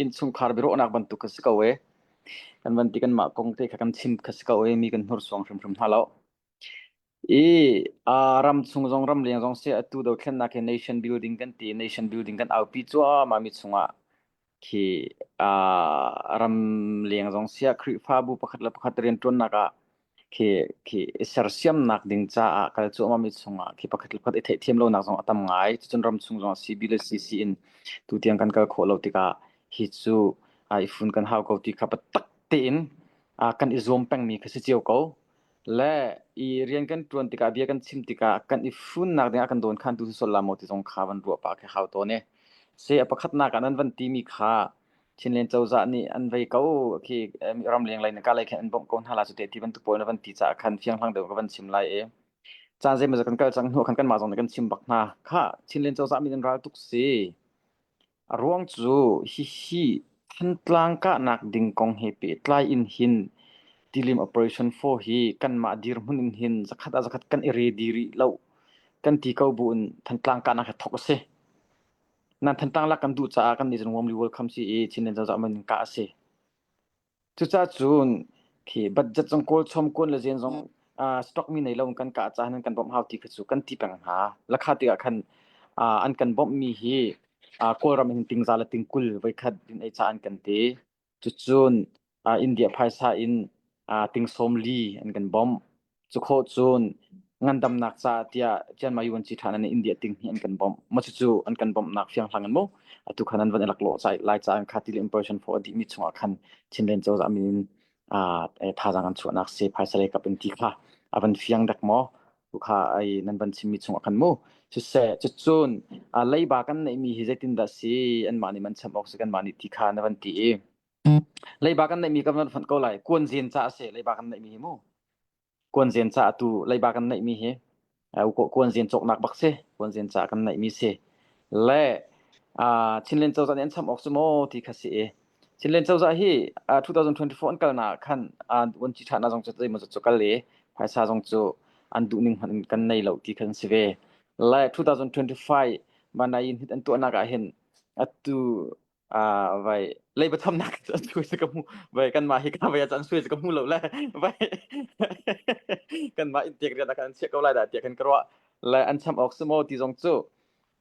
innchungkhar biaruahnak bantuk ka si ko e kan van ti kan mah kong te kha kan chim kha si ko e mi kan hnur suang hrimhrim hna lo i a ram chung zong ram leng zong se atu do thlen nak nation building kan ti nation building kan aupi chua ma mi chunga khi a ram leng zong sia khrifa bu pakhat le pakhat rian tuan nak ah khi khi i sersiamnak ding caah kal cuahmahmi chungah khi pakhat le pakhat i theihthiam lonak zong a tam ngai. Cucun ram chung zongah sibi le sisi in tutiang kan kal khawh lo tikah hi cu ai fun kan hau ko ti kha biatak tein ah kan i zuam pengmi kha si cio ko. Le i rian kan ṭuan tikah, bia kan chim tikah kan i funnak dingah kan dawnkhantu si sual la maw ti zong kha van ruah pah khi hau tawn i. Si a pakhatnak ah nan van timi kha Chinland cozah nih an vei ko khi ramleng lei na kalei khin an bawmh ko hna lai cu te ti bantuk pawl in a van ti caah khan fianghlang deuh ka van chim lai i caan zeimawzat kan kal cang hnu khan kanmah zong nih kan chim bak hna. Khah Chinland cozah min in ral tuk si. A ruang cu hihi Thantlang kahnak ding kong he pehtlai in hin tilim Operation 4 hi kanmah dirhmun in hin zakhat ah zakhat kan i redi rih lo kan ti ko buin Thantlang kahnak hi thawk a si. nan thantang lak kan duh caah kan Nation Warmly World kham si i Chinland Zazak man ka a si. Cucaah cun khi budget zong kawl chom kun le zen zong stock mi nei lo kan ka ca nan kan bom hau ti kha cu kan ti peng hna. Lakha ti ah khan an kan bom mi hi Kawlram in tingza le tingkul voi khat din ei ca an kan ti. Cucun aa India phaisa in aa tingsawm li an kan bawmh. Cukhawh cun ngandamnak caah tiah Chian Mayu an ci ṭhan in India ting hi an kan bawmh. Macucu an kan bawmhnak fianghlang in mu atu khan an van i laklawh ca lai ca an kha ti le impression fo a dih mi chungah khan Chinlen cozah min in aa thazaang an chuahnak se phaisa leikap in ti kha a van fiang dek maw? Tukha ai nan van chimmi chungah khan mu. Siseh, cucun uh, leiba kan neihmi hi zeitindah si anmah nih man cham awk si kanmah nih ti kha na van ti i leiba kan neihmi kan van phanh ko lai kuan zin ca a si leiba kan neihmi hi mu kuan zin ca tu leiba kan neihmi hi kuan zin cawknak bak si kuan zin ca kan neihmi si le uh, chinlen cozan an cham awk cu maw ti kha si i Chinland cozah hi uh, 2024 an kalnak ah khan uh, an ci ṭhahnak zong cu zeimaw cu kal i phaisa zong cu an duh ning hmanh in kan nei lo ti khan si ve. Le 2025 mana yin hit an tuahnak ah hin atu uh, vai leiba thamnak an sui se ka mu vai kan ma hi ka vai an sui se ka mu lo le vai kan ma in tek ria da kan che ko lai da ti kan karwa le an cham ok sumo ti zong cu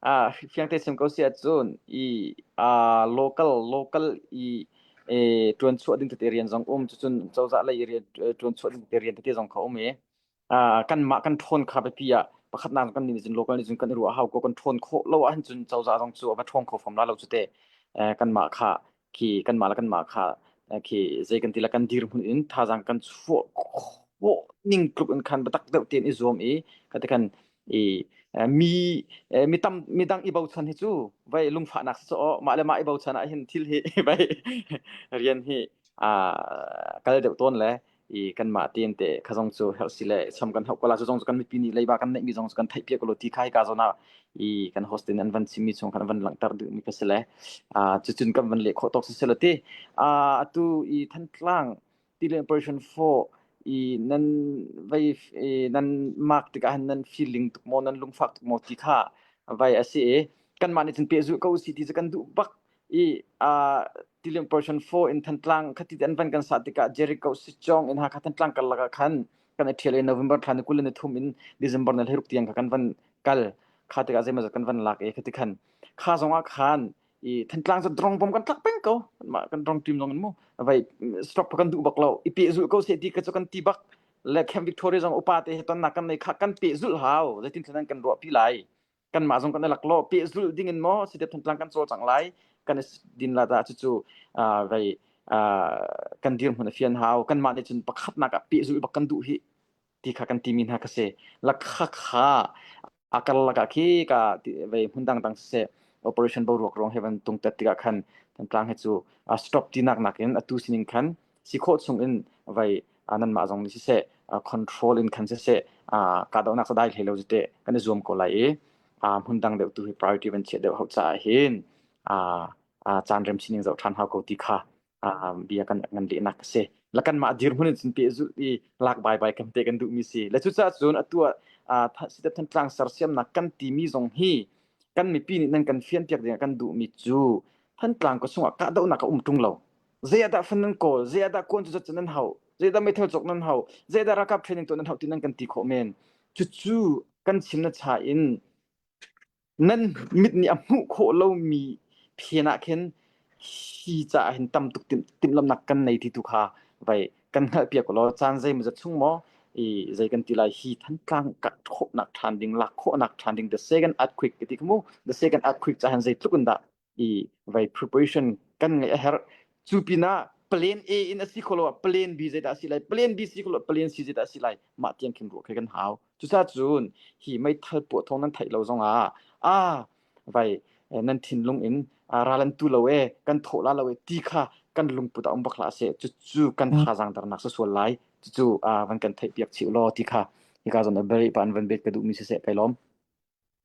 Ah, fiang te sim ko si ahcun i ah local local i eh tuan chuah ding tete rian zong um cucun cozah lei i rian eh, tuan chuah ding tete rian tete zong ka um i ah kan mah kan ṭhawn kha biapi ah pakhatnak kan nih cun local nih cun kan i ruah hau ko kan ṭhawn khawh lo ahcun cozah zong cu a va ṭhawng kho fam la lo cu te eh, kan mah kha khi kanmah le kanmah kha khi zei kan ti la kan dir hmun in thazang kan chuah khawh ning tluk in khan batak deuh tin i zuam i kate kan i mi mi tam mi dang i bochan hi cu vai lungfahnak so mah le mah i bochan ah hin thil hi vai rian hi a kal deuh ton le i kanmah tein te ka zong cu herh si le cham kan hauh ko la cu zong cu kan mipi nih leiba kan neih mi zong cu kan theih piak ko lo ti kha hika zawn ah i kan hostel in an van chim mi chung khan an van langhter duh mi ka si le uh, cucun kan van leh khawh tawk si se lo ti uh, atu i thantlang tile operation 4 i nan vai nan mark tikah han nan feeling tuk mo nan lungfak tuk mo ti kha vai asi e kan mah nih cun pe zu ko si ti cu kan duh bak i a tiling portion 4 in thantlang khati an van kan sa tikah Jericho Sichong in ha kha thantlang kal laka khan kan i ṭhial i November thla ni kul ni thum in December ni thiruk tiang kha kan van kal kha tikah zeimaw zat kan van lak i khati khan kha zongah khan i thantlang cu drong bom kan tlak peng ko ma kan drong team long in mu vai stop kan du bak lo i pe zul ko se ti ka chu kan ti bak le Camp Victoria zong upa te he ton nak kan nei kha kan pe zul hau zeitin thlan kan ruah pi lai kanmah zong kan i laklawh pehzulh ding in maw si dep thantlang kan cawl cang lai kan i din la da cucu rei kan dir hmun a fian hau kanmah nih cun pakhatnak ah pehzulh bak kan duh hi ti kha kan timi hna ka se lakha kha akal laka khi ka vei hmun dang dang se operation boruak rong heaven tung tet tikah khan thantlang he cu stop tinak nakin atu sining khan si khawh chungin vai nanmah zong nih siseh control in khan siseh kahdohnak sadai hlei lo zite kan i zuam ko lai i hmun dang deuh tu hi priority van chiah deuh hau caah hin caan rem sining zoh ṭhan hau ko ti kha bia kan ngan lehnak a si. Lakan mah dir hmun in cun peh zulh i lak bai bai kam te kan duh mi si. Le cucaah cun atu sitep than tlang sersiamnak kan ti mi zong hi kan mipi nih nan kan fian piak ding kan duh mi cu Thantlang ko sungah kahdohnak a um ṭung lo. Zeiahdah fan nan kawl? Zeiahdah kuan cucut cu nan hauh? Zeidah meithal cawk nan hauh? Zeidah ralkap training tuah nan hauh ti nan kan ti khawh men. Cucu kan chim na cha in nan mit nih a hmuh khawh lomi phen ah khin hi caah hin tam tuk timh timhlamhnak kan nei ti tu kha vai kan hngalhpiak ko law caan zeimawzat chung maw i zei kan ti lai hi thantlang ka khawhnak ṭhan ding lak khawhnak ṭhan ding the second earthquake ti kha mu the second earthquake ca hin zeitluk in dah i vai preparation kan ngeih a herh cu pinah plan A in a si kholo ah plan B zeidah a si lai plan B si kholo plan C zeidah a si lai mah tiang khin ruah khi kan hau cucaah cun hi meithal puah thawng nan theih lo zongah a vai nan thinlung in ralan tu lo e kan thawh la lo e ti kha kan lungput a um bak la se cucu kan thazang darnak sa sual lai cucu van kan theih piak chih lo ti kha hika zon a very pan van bet ka duh mi se se kai lom